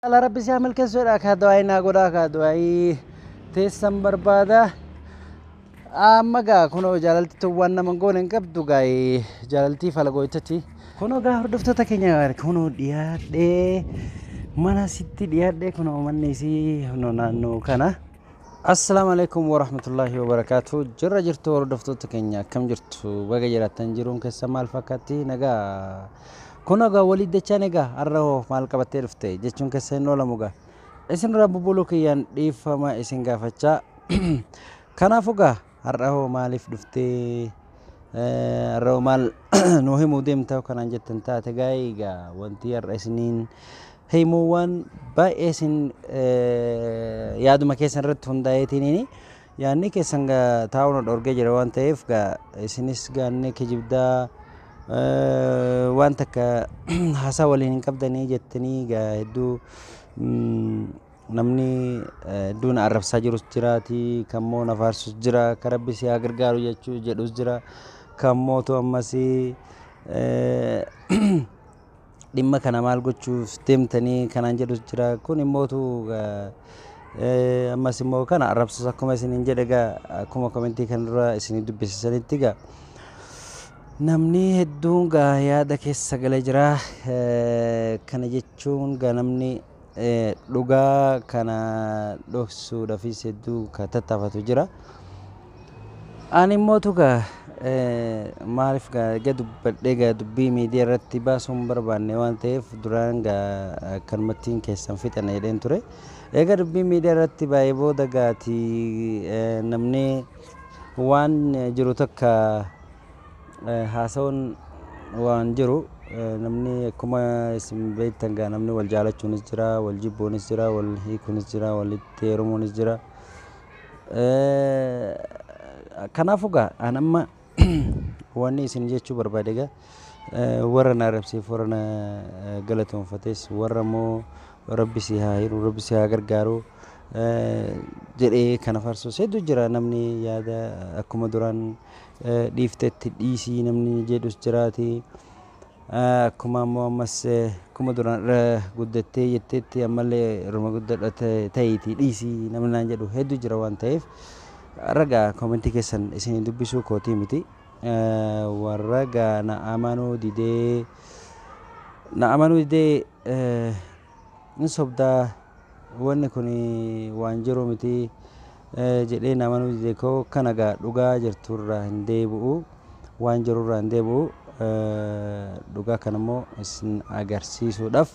Ala rabbi si haa milkeessu jedha akka du'aayi naa godha akka du'aayi teessan barbaada. Amma gaa kunoo jaalalti tun waan nama hin goone hin qabdu gaa jaalaltii falagooytati. Kunoo gaa hordoftoota keenya kunoo dhiyaadhee mana sitti dhiyaadhee kunoo manni isii kunoo naannoo kana. Assalaamu alaikum warahmatullahi wabarakatuh. Jirra jirtu hordoftoota keenya akkam jirtu baga jiraattan jiruun keessa maal fakkaatti nagaa. Kunoo egaa waliif dachaan egaa har'a hoo maal qabattee dhufte jechuun keessa hin oolamu egaa. Isinirraa bubbuluu kiyyaan dhiifama isin gaafachaa. Kanaafuu egaa har'a hoo maaliif dhuftee Eh, har'a hoo maal nuu himuu deemta yoo kanaan jettan taate egaa egaa wanti har'a isiniin himuu waan baay'ee isin eh, yaaduma keessan irratti hundaa'eetiinini. Yaanni keessan ga taa'uu na dhorgee jira waan ta'eef ga isinis gaannee kijibdaa waan takka haasaa waliin hin qabdanii jettanii ga hedduu namni hedduu na arrabsaa jirus jiraati kan moo na faarsus jira kan rabbi si haa gargaaru jechuu jedhus jira kan mootu ammas dhimma kana maal gochuuf deemtanii kanaan jedhus jira kun immoo utuu eh, ammas immoo kana arrabsus akkuma isin hin jedhe egaa akkuma komentii kan dura isin dubbisisanitti egaa namni hedduun gaa yaada keessa galee jira Eh, kana jechuun gaa namni Dhugaa kana dhoksuudhafis hedduu ka tattaafatu jira. Ani immoo tuga maaliif gaa dubbadhee gaa dubbii miidiyaa irratti baasuu hin barbaanne waan ta'eef duraan gaa akkanumattiin keessan fixan jedheen ture. Egaa dubbii miidiyaa irratti baay'ee booda gaati namni waan jiru takka Haasawan waan jiru namni akkuma isin beektan gaa namni wal jaalachuunis jira wal jibbuunis jira wal hiikuunis jira walitti heerumuunis jira. Kanaafuu gaa an amma wanni isin jechuu barbaade gaa warra na arrabseef warra na galatoonfates warra immoo rabbi si haa hiru rabbi si haa gargaaru jedhee kana farsus hedduu jira namni yaada akkuma duraan dhiiftetti dhiisii namni jedhus jiraati. Akkuma ammoo ammas akkuma duraan irra guddattee jetteetti ammallee irruma guddadha ta'iitii dhiisii namni naan jedhu hedduu jira waan ta'eef ragaa koomentii keessan isin dubbisuu kootii miti. Warra gaa na amanuu didee na amanuu didee Hin sobda wanni kun waan jiru miti jedheen amanuu dide koo kana gaa dhugaa jirtu irraa hin deebi'u waan jiru irraa hin deebi'u dhugaa kana immoo isin agarsiisuudhaaf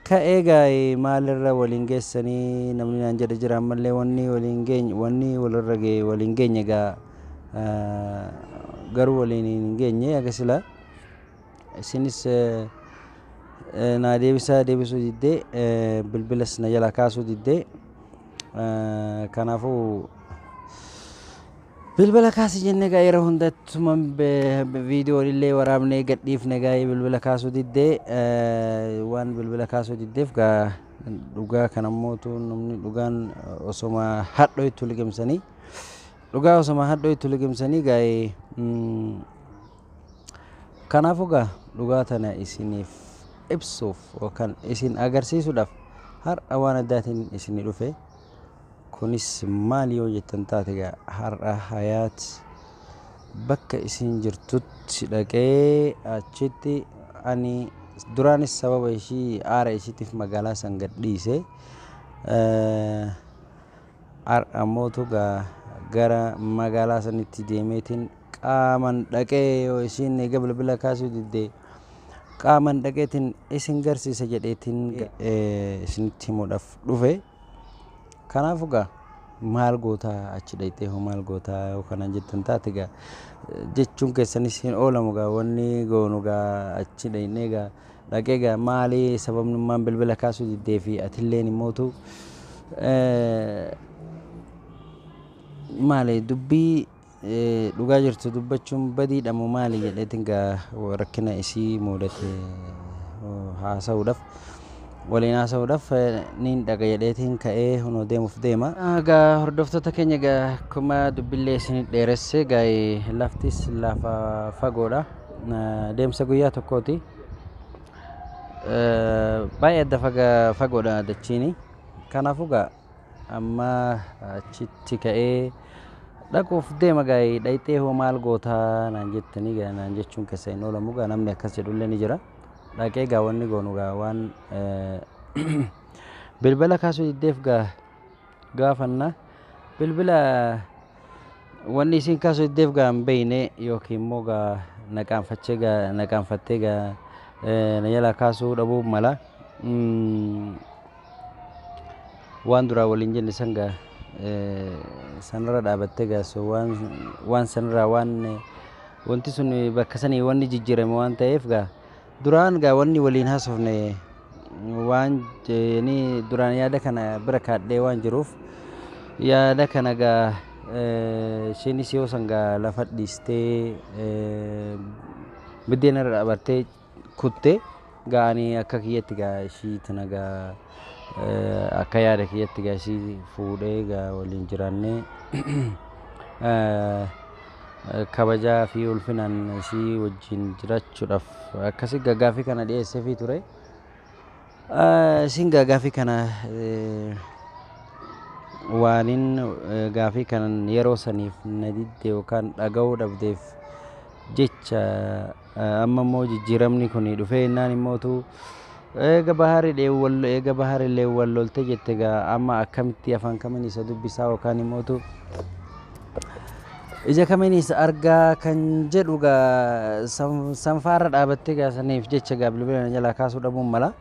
ka'ee gaa'e maalirra waliin geessanii namni naan jedhe jira ammallee wanni waliin geenye wanni walirra ga'e waliin geenye gaa garuu waliin hin geenye aga silaa Isinis naa deebisaa deebisuu diddee bilbilas na jalaa kaasuu diddee kanaafuu bilbila kaasi jenne egaa yeroo hundattuma viidiyoon illee waraabnee gadhiifne egaa bilbila kaasuu diddee waan bilbila kaasuu diddeef egaa dhugaa kana mootu namni dhugaan osoma hadhoo itti liqimsanii dhugaa osoma hadhoo itti liqimsanii egaa Kanaafuu egaa dhugaa tana isiniif ibsuuf yookaan isin agarsiisuudhaaf har'a waan addaatiin isinii dhufe. Kunis maal yoo jettan taate egaa har'a Hayaat bakka isin jirtutti dhaqee achitti ani duraanis sababa ishii aara ishiitiif magaalaa san gadhiise. Har'a mootu egaa gara magaalaa sanitti deemeetiin qaaman dhaqee yoo isiin eega bilbila kaasuu didde qaaman dhaqeetiin isin garsiisa jedheetiin isinitti himuudhaaf dhufe. Kanaaf egaa maal gootaa achi dhaqxee hoo maal gootaa yoo kana jettan taate egaa jechuun keessanis hin oolamu egaa wanni goonu egaa achi dhaqnee egaa Dhaqee egaa maali sababnummaan bilbila kaasuu diddee fi atilleen immootu maali dubbii dhugaa jirtu dubbachuun badiidha moo maali jedheetiin egaa rakkina isii muudate haasa'uudhaaf waliin haasa'uudhaaf niin dhaqa jedheetiin ka'ee hunoo deemuuf deema. Egaa hordoftoota keenya egaa akkuma dubbillee isin dheeresse egaa laftis lafa fagoodha. deemsa guyyaa tokkooti. Baay'ee adda fagoodha dachiini. Kanaafuu gaa amma achitti ka'ee dhaquuf deema gaa'ee dhayxee hoo maal gootaa naan jettanii gaa naan jechuun keessa hin oolamu gaa namni akkas jedhullee ni jira. Dhaqee gaa wanni goonu gaa waan bilbila kaasuu diddeef gaa gaafanna. Bilbila wanni isiin kaasu iddeef gaa hin beeyne yookiin immoo gaa naqaanfachee gaa naqaanfattee gaa eh, na jalaa kaasuu dhabuu mala. Mm, waan duraa waliin jenne san gaa eh, sanarra dhaabattee gaa so waan waan sanirraa waan eh, wanti sun bakka sanii wanni jijjiirame waan ta'eef gaa Duraan gaa wanni waliin haasofne waan jeeni duraan yaada kana bira kaadhee waan jiruuf yaada kana gaa isheenis yoo san gaa lafa dhiistee biddeen irra dhaabbattee kutte gaa ani akka kiyyatti gaa ishii tana gaa akka yaada kiyyatti gaa ishii fuudhee gaa waliin jiraannee kabajaa fi ulfinaan si wajjin jirachuudhaaf akkasi gagaafi kana dhiyeessefi ture. Isin gagaafi kana waalin gaafii kanan yeroo saniif na didde yookaan dhaga'uu dhabdeef jecha Amma immoo jijjiiramni kun dhufee innaan immootu eega bahaari dheewu wal eega bahaari lee wal lolte jette gaa amma akkamitti afaan kamiin isa dubbisaa yookaan immootu ija kamiin isa argaa kan jedhu gaa sanfaarra dhaabattee gaa saniif jecha gaa bilbila na jalaa kaasuu dhabuun mala.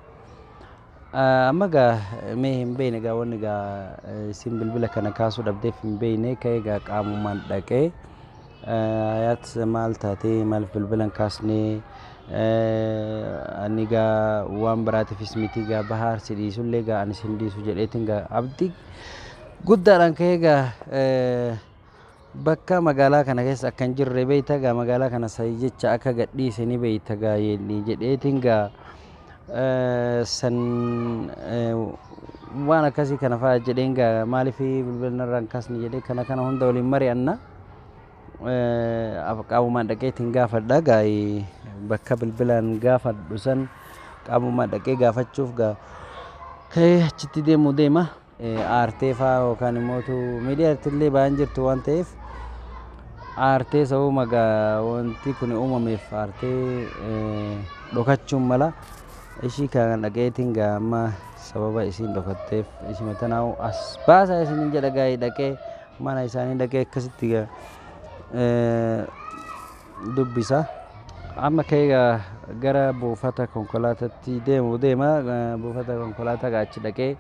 Amma egaa mee hin beekne egaa wanni egaa isin bilbila kana kaasuu dhabdeef hin beekne ka'ee egaa qaamumaan dhaqee hayaat maal taatee maaliif bilbila hin kaasne ani egaa waan biraatiifis miti egaa bahaar si dhiisullee egaa ani sin dhiisu jedheetiin egaa abdii guddaadhaan ka'ee egaa Bakka magaalaa kana keessa akka hin jirre beeyta gaa magaalaa kana sayi jecha akka gadhiise ni beeyta gaa yeelli jedheetiin gaa eh, san eh, waan akkasii kana fa'a jedheen gaa maaliif bilbilna irraan kaasni jedhee kana kana hunda waliin mari'anna Eh, af- qaamumaan dhaqeetiin gaafadha gaa eh, bakka bilbilaan gaafadhu san qaamumaan dhaqee gaafachuuf gaa ka'ee achitti deemuu deema. aartee faa yookaan immoo miidiyaa irratti illee baay'een jirtu waan ta'eef aartee sababa wanti kun uumameef aartee dhokachuun mala ishii kan dhaqeetiin gaa amma sababa isiin dhokatteef ishima tanaa'u as baasaa isiniin jedha gaa'ii dhaqee mana isaanii dhaqee akkasitti gaa dubbisa. Amma ka'ee egaa gara buufata konkolaatatti deemu deema. Buufata konkolaataa egaa achi dhaqee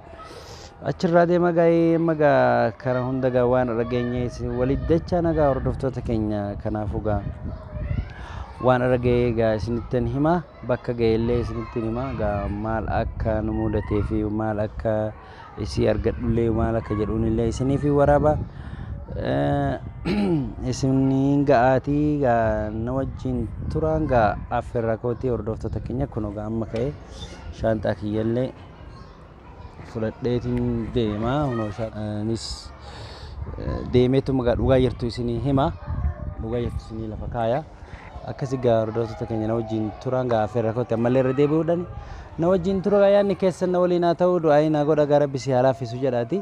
achirraa deema gaa'ee amma egaa kana hunda egaa waan dhageenye isin walitti dachaan egaa hordoftoota keenya kanaafuu egaa waan irra ga'ee egaa isinittin hima bakka ga'ellee isinittin hima egaa maal akka nu mudatee fi maal akka isii argadhullee maal akka jedhuunillee isiniif hin waraaba isiniin ga'aatii gaa na wajjin turaan gaa affeerraa kootii hordoftoota keenya kunoo gaa amma ka'ee shaanxaa kiyyallee fudhadheetiin deemaa kunoo shaanis deemeetuma gaa dhugaa jirtu isinii hima dhugaa jirtu isinii lafa kaaya. Akkasi gaa hordoftoota keenya na wajjin turaan gaa affeerra kootti ammallee irra deebi'uudhaan na wajjin tura gaa yaadni keessan na waliin haa ta'uu du'aayii naa godha gaa rabbi si haa laaffisu jedhaati.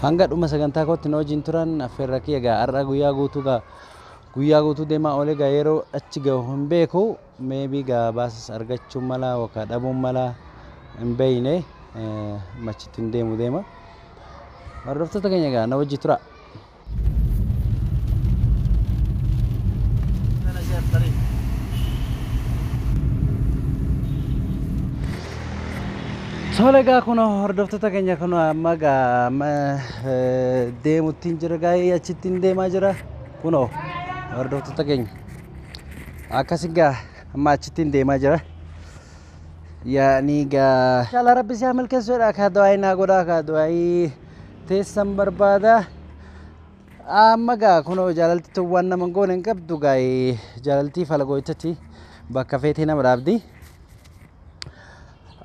Hanga dhuma sagantaa kootti na wajjin turaan affeerra kiyya gaa har'a guyyaa guutuu gaa guyyaa guutuu deemaa oolee gaa yeroo achi gahu hin beeku meebii gaa baasas argachuun mala yookaan dhabuun mala hin beeyne machitti hin deemu deema. Hordoftoota keenya gaa na wajjin turaa. Tole egaa kun hordoftoota keenya kun amma egaa amma eh, deemuttiin jira gaa'ee achittiin deemaa jira kunoo hordoftoota keenya akkas egaa amma achittiin deemaa jira yaa'anii egaa inshaalla rabbi isaa milkeessuudha kaa du'aayii naa godhaa kaa du'aayii teessan barbaada. Amma gaa kunoo jaalalti tun waan nama hin goone hin qabdu gaa jaalaltii falagooytati bakka feetee nama dhaabdi.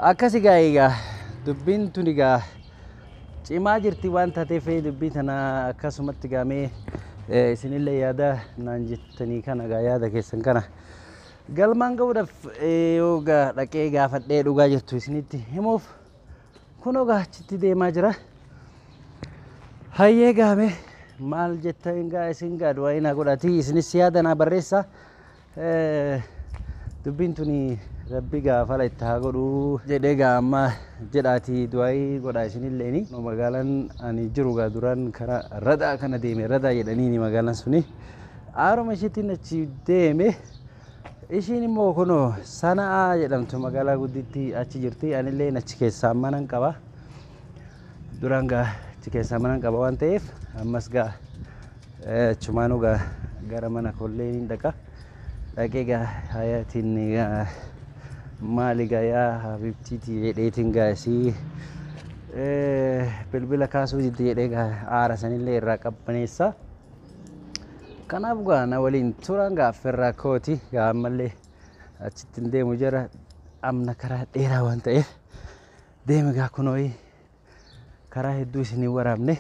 Akkasi gaa egaa dubbiin tun egaa cimaa jirti waan taateef dubbii tana akkasumatti gaamee isinillee yaada naan jettanii kana gaa yaada keessan kana galmaan ga'uudhaaf yoo gaa dhaqee gaafadhee dhugaa jirtu isinitti himuuf. Kunoo gaa achitti deemaa jira. Hayyee gaame maal jetta egaa isin gaa du'aa inaa godhati isinis yaada naa barreessa. Eh, Dubbiin tuni rabbi gaa fala itti haa godhu jedhee gaa amma jedhaati du'aayii godhaa isinilleeni. No, Magaalaan ani jiru gaa duraan karaa radaa kana deeme radaa jedhaniini magaalaan suni. Aaruma ishiitiin achi deeme. Ishiin immoo kunoo Sana'aa jedhamtu magaalaa guddittii achi jirti. Anillee achi keessaa manan qaba. Duraan gaa achi keessaa manan qaba waan ta'eef ammas gaa eh, achumaanuu gaa gara mana kollee niin dhaqa. Dhaqee gaa hayaatiin gaa maali gaa yaa habibtiiti jedheetiin gaa isii eh, bilbila kaasuu didde jedhee gaa aara sanillee irraa qabbaneessa. Kanaaf gaa na waliin turan gaafferraa kooti gaa ammallee achitti hin deemu jira amna karaa dheeraa waan ta'eef deeme gaa kunooyi karaa hedduu isin hin waraabne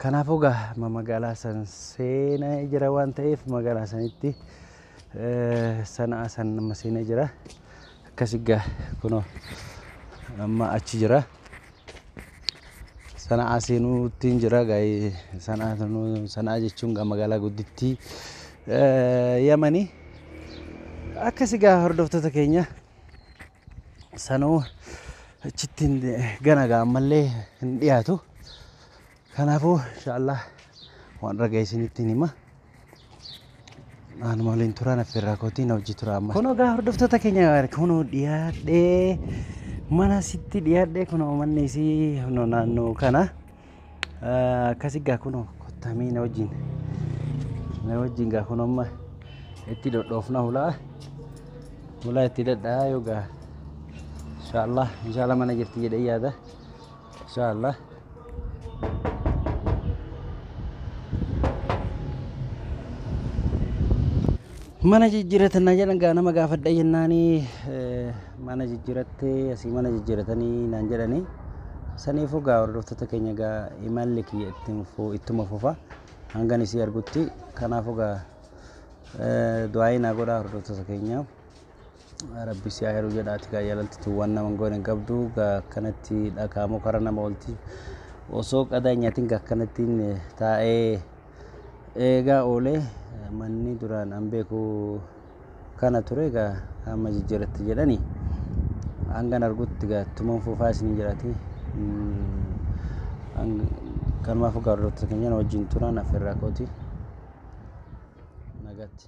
kanaafuu gaa amma magaalaa san seenaa jira waan ta'eef magaalaa sanitti eh, sana'aa san amma seenaa jira akkasi gaa kunoo amma achi jira. Sana'aa seenuuttiin jira gaa'ee sana'aa sanuu- sana'aa jechuun gaa magaalaa guddittii eh, yamanii akkasi gaa hordoftoota keenya sanuu achittiin gana gaa ammallee hin dhiyaatu Kanaafuu inshaallah waan dhagahe isinittiin hima. Anuma waliin turaa na firraa kootii na hojii turaa amma. Kunoo gaa hordoftoota keenya kunoo dhiyaadhee mana sitti dhiyaadhee kunoo manni isii kunoo naannoo kana akkasi gaa kunoo kottamee na wajjin na wajjin gaa kunoo amma itti dhodhoofna hulaa hulaa itti dadhaa yoo gaa inshaallah inshaallah mana jirti jedhee yaada. insha allah mana jijjiiratannaa jedhan gaa nama gaafadha jennaani eh, mana jijjiirattee asii mana jijjiiratanii naan jedhani saniifuu gaa hordoftoota keenya gaa imalli kiyya ittiin fu- ittuma fufa hangan isii argutti kanaafuu gaa eh, du'aayii naa godhaa hordoftoota keenyaaf Rabbi si aheru jedha ati gaa yalaltitu wan naman gone gabdu ga akkanatti dhakaa mukara nama olti osoo qadaa nyatin ga akkanatti taa'ee eegaa oole manni duraan an beeku kana ture ga amma jijjiratti jedhani hangan argutti ga tuman fufaa isin jedhati kanumaaf gaa hordoftoota keenyana wajjin turan afeerraa kooti nagatti